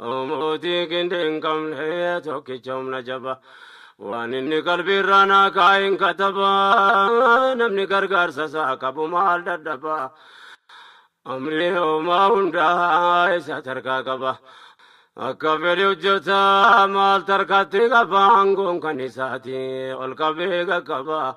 Mootii qindee hin qabne tokkicha humna jaba. Waan inni qalbiirraa naa kaa'een kataba. Namni gargaarsa isaa qabu maal dadhaba. Amrii hoomaa hundaa isa tarkaa qaba. Akka fedhe hojjeta maal tarkaatti qaba. Aangoon kan isaati ol qabee qaqqaba.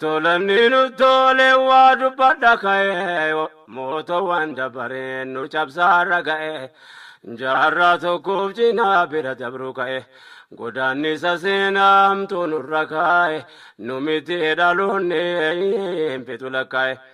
Tolanni nu tole waa dubbadha ka'ee yoo mootoowwan dabareen nu cabsaarra ga'e jaarraa tokkoof cinaa bira dabruu ka'e godaannisa seenaa hamtuu nurra kaa'e nu miti dhaloonni hin fixu lakkaa'e.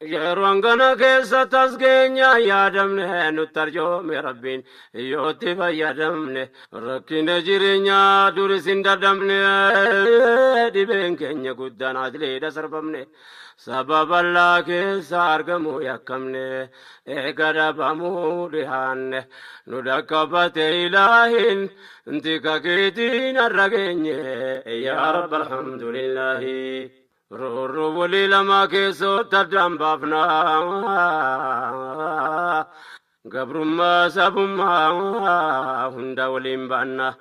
Yeroon kana keessa tas keenya yaadamne nutti arjoome rabbiin yootti fayyadamne rakkina jireenyaa duris hin dadhabne dhibeen keenya guddaan asliidha sarbamne sababa laa keessa argamuu yakkamne eega dhabamuu dhihaanne nu dhaqqabate ilaahin tika keetiin har'a geenye yaa rabbi alhamdulillaahi. Roorroo walii lamaa keessootti addaan baafna. Gabrummaa sabummaa hunda waliin baanna.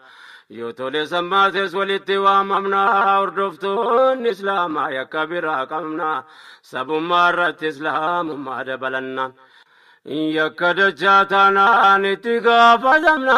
Yoo tole sammaates walitti waamamna. Hordoftoonni Islaamaa yakka biraa qabna. Sabummaa irratti Islaamummaa dabalanna. Yakka dachaa taanaan itti gaafatamna.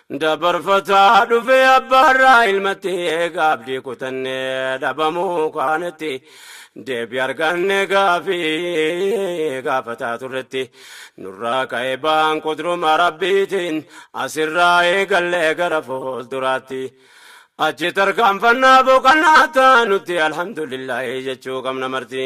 Dabarfataa dhufee abbaarraa ilmatti eegaa abdii kutannee dhabamuu kaanitti deebi arganne gaafii gaafataa turretti nurraa ka'e baan qudruma rabbiitiin asirraa eegallee gara fuulduraatti achi tarkaanfannaa boqannaa taanutti alhamdulillaahi jechuu qabna marti.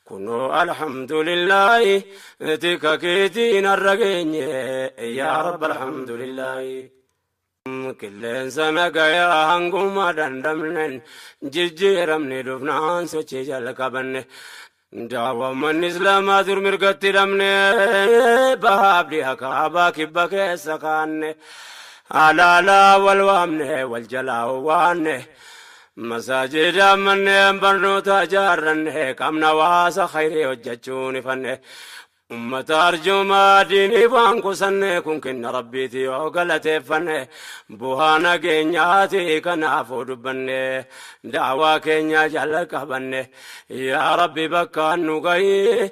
Kunoo alhamdulillaahi tika keetiin har'a geenye yaa rabbi alhamdulillaahi. Qilleensa nagayaa hanguma dandamnen jijjiiramne dhufnaan sochii jalqabanne. Daawwammanni Islaamaa dur mirgatti hidhamne bahaaf dhiha kaabaa kibba keessa kaanne. Alaalaa wal waamne wal jalaa waanne. Masaajida, manneen barnootaa ijaarranne, qaamni hawaasa khayrii hojjachuun ifanne, ummata arjoomaa diiniif waan qusanne, kun kenna Rabbiiti yoo galateeffanne, buhaa nageenyaati kanaafuu dubbanne, da'awaa keenya jalqabanne, yaa Rabbi bakkaan nu gahi,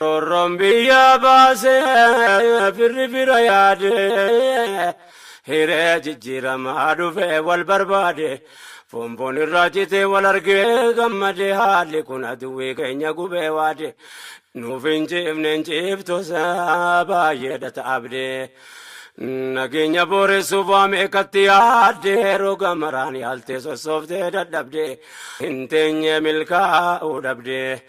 Roorroon biyya baase firri fira yaade hiree jijjiiramaa dhufe wal barbaade foonfoon irraa citee wal argee gammade haalli kun aduwwii keenya gubee waade nuuf hin ciifne hin ciiftosa baay'eedha taabde nageenya booressuuf waa meeqatti yaadde roga maraan yaaltee sossooftee dadhabde hin teenye milkaa'uu dhabde.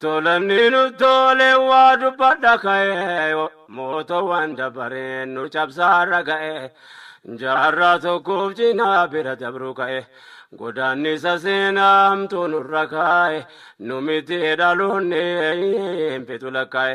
Tolanni nu tole waa dubbadha ka'ee yoo mootoowwan dabareen nu cabsaarra ga'e jaarraa tokkoof cinaa bira dabru ka'e godaannisa seenaa hamtuu nurra kaa'e nu miti dhaloonni hin fixu lakkaa'e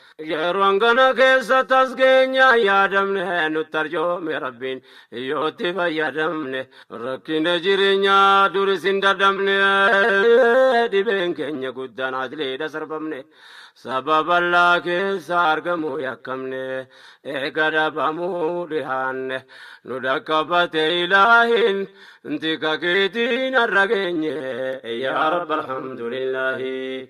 Yeroo hangana keessa tasgeenya yaadamne nutti arjoome rabbiin yoo itti fayyadamne rakkina jireenyaa duris hin dadhabne dhibeen keenya guddaan ajleedha sarbamne sababa allaa keessa argamuu yakkamne eega dhabamuu dhihaanne nu dhaqqabate ilaahin tika keetiin har'a geenye yaa rabbi alhamdulillaahi.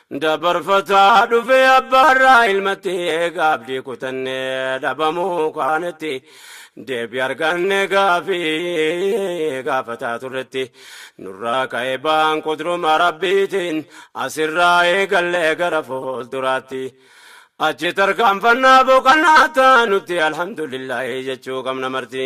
Dabarfataa dhufee abbaarraa ilmatti eegaa abdii kutannee dhabamuu kaanetti deebi arganne gaafii gaafataa turretti nurraa ka'e baan qudruma rabbiitiin asirraa eegallee gara fuulduraatti achi tarkaanfannaa boqannaa taanutti alhamdulillaahi jechuu qabna marti.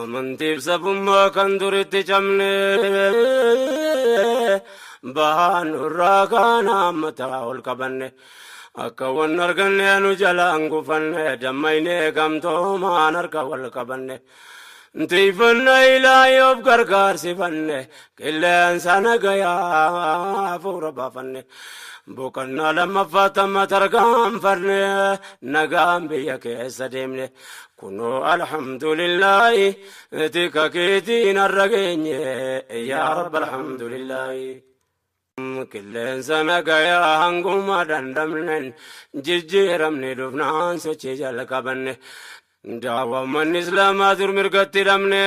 Amantiif sabummaa kan duritti cabne bahaan irraa kaana mataa ol qabanne akka wan arganne nu jalaan gufanne dammayne gamtoomaan harka wal qabanne tiifanna ilaayoof gargaarsifanne qilleensa nagayaa fuura baafanne boqannaa lammaffaa tamma tarkaanfanne nagaan biyya keessa deemne Kunoo alhamdulillaahi tika keetiin har'a geenye yaa rabbi alhamdulillaahi. Qilleensa nagayaa hanguma dandamnen jijjiiramni dhufnaan sochii jalqabanne. Daawwa manni islaamaa dur mirgatti dhabne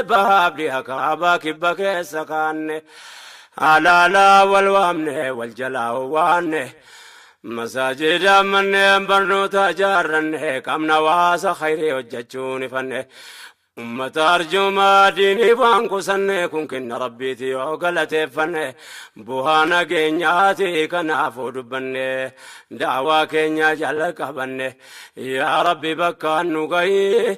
bahaaf dhiha kaabaa kibba keessa kaanne. Halaalaa wal waamne wal jalaa waanne. Masaajida, manneen barnootaa ijaarranne, qaamni hawaasa khayrii hojjachuun ifanne, ummata arjoomaa diiniif waan qusanne, kun kenna Rabbiiti yoo galateeffanne, buhaa nageenyaati kanaafuu dubbanne, da'awaa keenya jalqabanne, yaa Rabbi bakkaan nu gahi,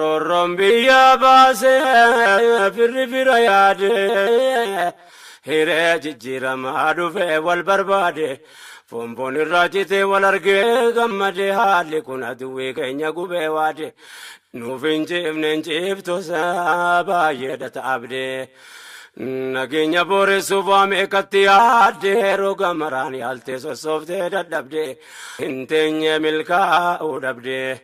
Roorroon biyya baase firri fira yaade hiree jijjiiramaa dhufe wal barbaade foonfoon irraa citee wal argee gammade haalli kun aduwwii keenya gubee waade nuuf hin ciifne hin ciiftosa baay'eedha taabde nageenya booressuuf waa meeqatti yaadde roga maraan yaaltee sossooftee dadhabde hin teenye milkaa'uu dhabde.